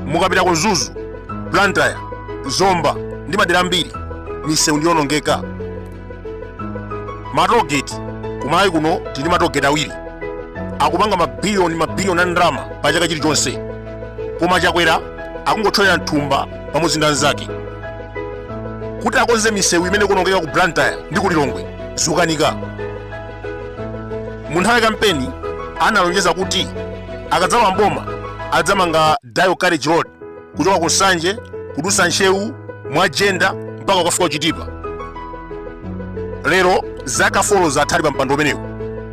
mukapita ku mzuzu blantyre zomba ndi madera ambiri misewu ndiyonongeka matogeti kumalawi kuno tili matogeti awiri akupanga mabiliyoni mabiliyoni a ndalama pa chaka chilichonse koma chakwera akungothyolera mthumba pamodzi ndi anzake kuti akonze misewu imene ikuonongeka ku blantyre ndi ku lilongwe zikukanika mu nthawi ya kampeni analonjeza kuti akadzalowa mboma adzamanga dual carriage road kuchoka ku nsanje kudutsa ntcheu mwa jenda mpaka ukafika kuchitipa lero zaka folo zatha ali pa mpando umenewu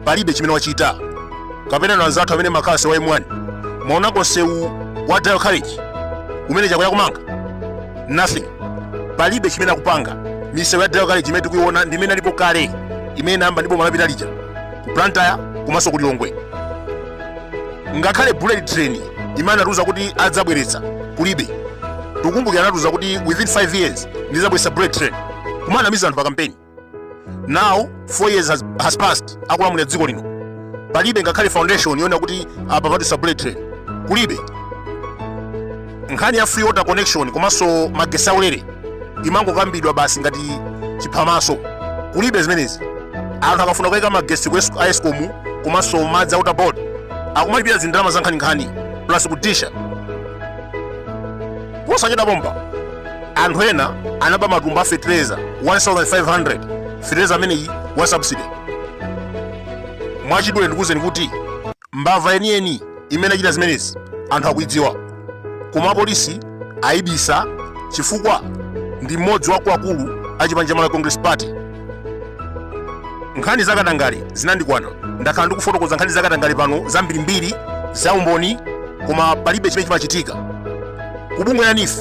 palibe chimene wachita kapena na anzathu amene makhala mseu wa M1 mwaonako nsewu wa dual carriage umene chakwera akumanga nothing palibe chimene akupanga misewu ya dual carriage imene tikuiona ndi imene ilipo kale imene anayamba ndi bomalapita lija ku blantyre komanso ku lilongwe ngakhale bullet train imene anatiuza kuti adzabweretsa kulibe tikumbukira anatiuza kuti within 5 years ndidzabweretsa bullet train kumanamiza anthu pa kampeni now 4 years has, has passed akulamulira dziko lino palibe ngakhale foundation yonena kuti apa padutsa bullet train kulibe nkhani ya free water connection komanso magesi aulere imangokambidwa basi ngati chiphamaso kulibe zimenezi anthu akafuna kuyika magesi ku Esco- a escom komanso madzi a water board akumalipira zindalama za nkhaninkhani plus kudisha posachedwa pompa anthu ena anaba matumba a fetereza 1500 fetereza ameneyi wa subsidy mwachidule ndikuwuzeni kuti Mbava yeniyeni imene yachita zimenezi anthu akuidziwa koma apolisi aibisa chifukwa ndi mmodzi wa akuluakulu a chipani cha Malawi Congress Party. Nkhani za katangale zinandikwana, ndakhala ndikufotokoza nkhani za katangale pano zambirimbiri za umboni koma palibe chimene chimachitika. Ku bungwe la NEEF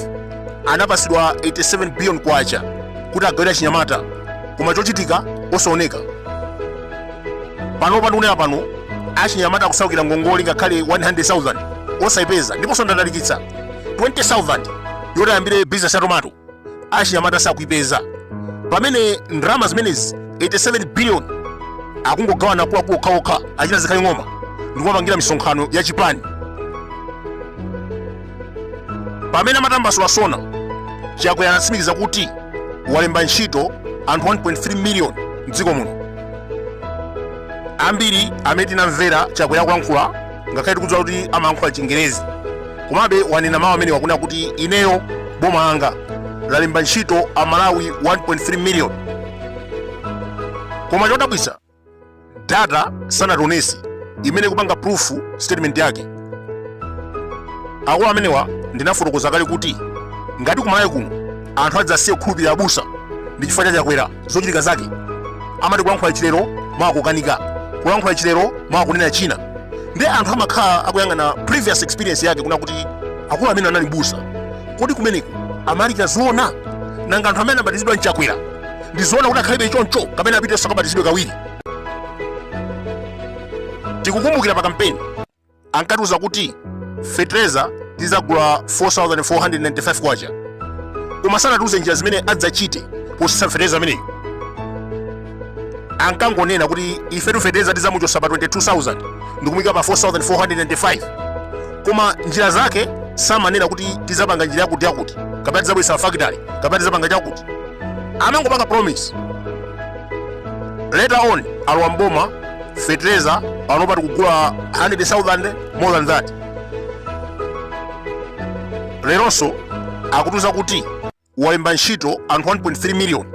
anapasidwa 87 billion kwacha kuti agawire achinyamata koma chochitika osaoneka. pano pa ndikunena pano achinyamata akusaukira ngongole ngakhale 100,000 osayipeza ndiponso ndatalikitsa 20,000 yoti ayambire business ya tomato achinyamata sakuyipeza pamene ndalama zimenezi 87 billion akungogawana akuluakulu okhaokha achina zikhale ng'oma ndikumapangira misonkhano ya chipani pamene amatambasula sona chakwera anatsimikiza kuti walemba ntchito anthu 1.3 miliyoni mdziko muno ambiri amene tinamvera chakwera akulankhula ngakhale tikudziwa kuti amalankhula chingerezi komabe ananena mawu amene wakunena kuti ineyo boma langa lalemba ntchito amalawi 1.3 miliyoni koma chodabwitsa data sanationetse imene ikupanga prove statement yake akulu amenewa ndinafotokoza kale kuti ngati kumalawi kuno anthu adzasiya kukhulupirira abusa ndi chifukwa cha chakwera zochitika zake amati akulankhula china lero mawa akukanika akulankhula china lero mawa akunena china ndiye anthu amakhala akuyang'ana previous experience yake kunena kuti akulu amenewa anali mbusa kodi kumeneku amalalikira zoona nanga anthu amene anabatizidwa ndi chakwera ndizoona kuti akhalebe choncho kapena apitenso akabatizidwe kawiri tikukumbukira pa kampeni ankatiuza kuti fetereza tizagula 4495 kwacha koma sanatiuze njira zimene adzachite posisa fetereza ameneyo ankangonena kuti ifetu fetereza tizamuchosa pa 22000 ndikumuyika pa 4495 koma njira zake samanena kuti tizapanga njira yakuti yakuti kapena tizabweretsa fakitali kapena tizapanga chakuti amangopanga promise later on alowa mboma fetereza panopa tikugula 100,000 more than that leronso akutiuza kuti walemba ntchito anthu 1.3 million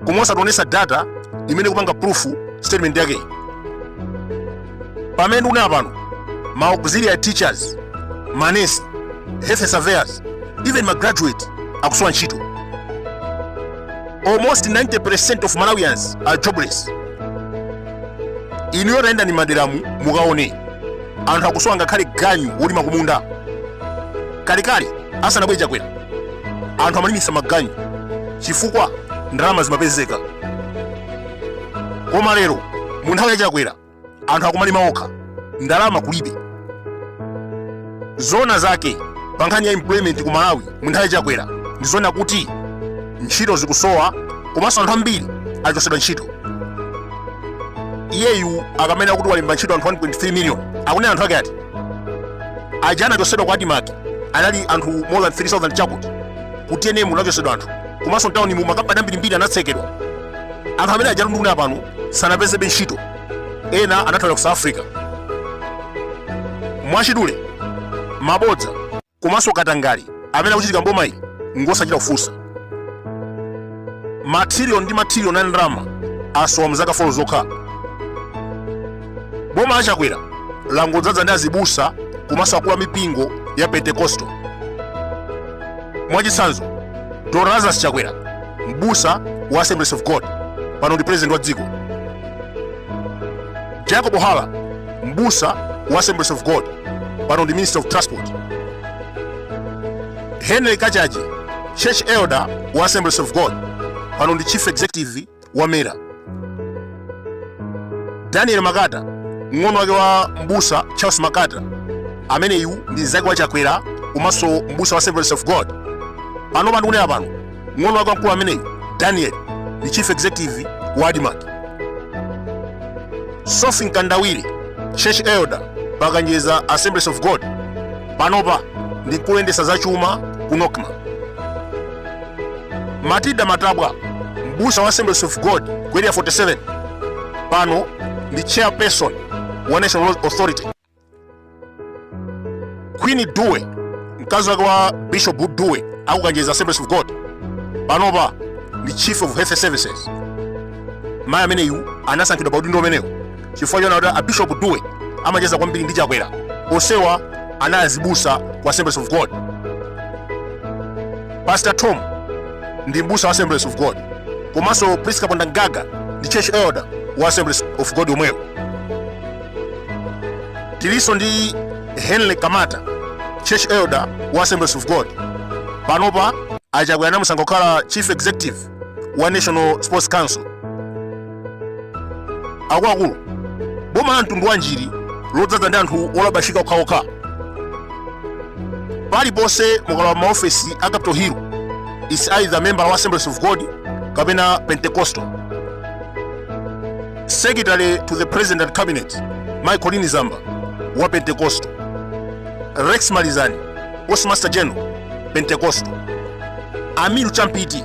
koma osationesa data imene ikupanga prove statement yake pamene ndikunena pano ma auxiliary teachers manesi health surveillance even ma graduate akusowa ntchito almost 90% of malawians are jobless inuyo tayendani m'maderamu mukaone anthu akusowa ngakhale ganyu wolima kumunda kalekale asanabwere chakwera anthu amalimisa maganyu chifukwa ndalama zimapezeka koma lero mu nthawi ya chakwera anthu akumalima okha ndalama kulibe zona zake pa nkhani ya employment ku malawi mu nthawi ya chakwera ndi zona kuti ntchito zikusowa komanso anthu ambiri achosedwa ntchito iyeyu akamanena kuti walemba ntchito anthu 1.3 million akunena anthu ake ati aja anachosedwa ku admarc anali anthu more than 3000 chakuti ku tnm kunachosedwa anthu komanso mtawuni mu makampani ambirimbiri anatsekedwa anthu amene aja nduna pano sanapezebe ntchito ena anathawira ku south africa mwachidule mabodza komanso katangale amene akuchitika mboma ili ngosachita kufunsa matrilion ndi matrilion a ndalama asowa mzaka folo zokha boma la chakwera langodzaza ndi azibusa komanso akulu a mipingo ya pentecostal mwachitsanzo dr lazarus chakwera mbusa wa assemblies of god pano ndi president wa dziko jacob hara mbusa wa assemblies of god pano ndi minister of transport henry kachaje church elder wa assemblies of god pano ndi chief executive wa mera daniel makata mng'ono wake wa mbusa charles makata ameneyu ndi mzake wa chakwera komanso mbusa wa assemblies of god pano pandikunena pano mng'ono wake wamkulu ameneyu daniel ndi chief executive wa admarc sofi mkandawire church elder pakanjeza assemblies of god panopa ndi kuyendetsa za chuma ku nocma matilda matabwa mbusa wa assemblies of god ku area 47 pano ndi chairperson wa national Roads authority queen dube mkazi wake wa bishop dube akukanjeza assemblies of god panopa ndi chief of health services mayi ameneyu anasankhidwa pa udindo umenewu chifukwa chonena kuti abishop dube amacheza kwambiri ndi chakwera onsewa anali azibusa ku assemblies of god pastor tom ndi mbusa wa assemblies of god komanso priska pondangaga ndi church elder wa assemblies of god yomweyo tilinso ndi henry kamata church elder wa assemblies of god panopa achakwera anamusankha kukhala chief executive wa national sports council akuluakulu boma la mtundu wa njiri lodzaza ndi anthu olabashika okhaokha paliponse mukalowa maofesi a capital hill is either member wa assemblies of god kapena pentecostal Secretary to the President and Cabinet, Michael Nizamba, wa Pentecostal. Rex Malizani, Postmaster General, Pentecostal. Amiru Champiti,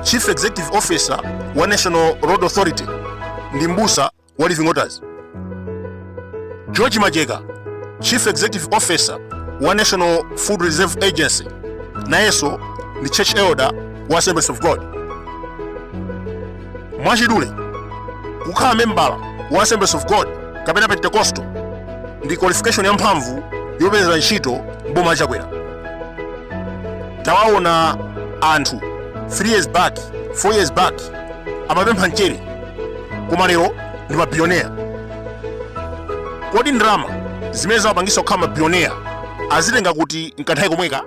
Chief Executive Officer wa National Road Authority, ndi mbusa wa Living Waters. George Majeka, Chief Executive Officer wa National Food Reserve Agency, nayenso ndi Church Elder wa Assemblies of God. mwachidule kukhala membala wa assemblies of god kapena pentecostal ndi qualification yamphamvu yopezera ntchito mboma la chakwera tawaona anthu 3 years back 4 years back amapempha mchere koma lero ndi mabilionea kodi ndalama zimene zawapangitsa kukhala mabilionea azitenga kuti nkanthawi komweka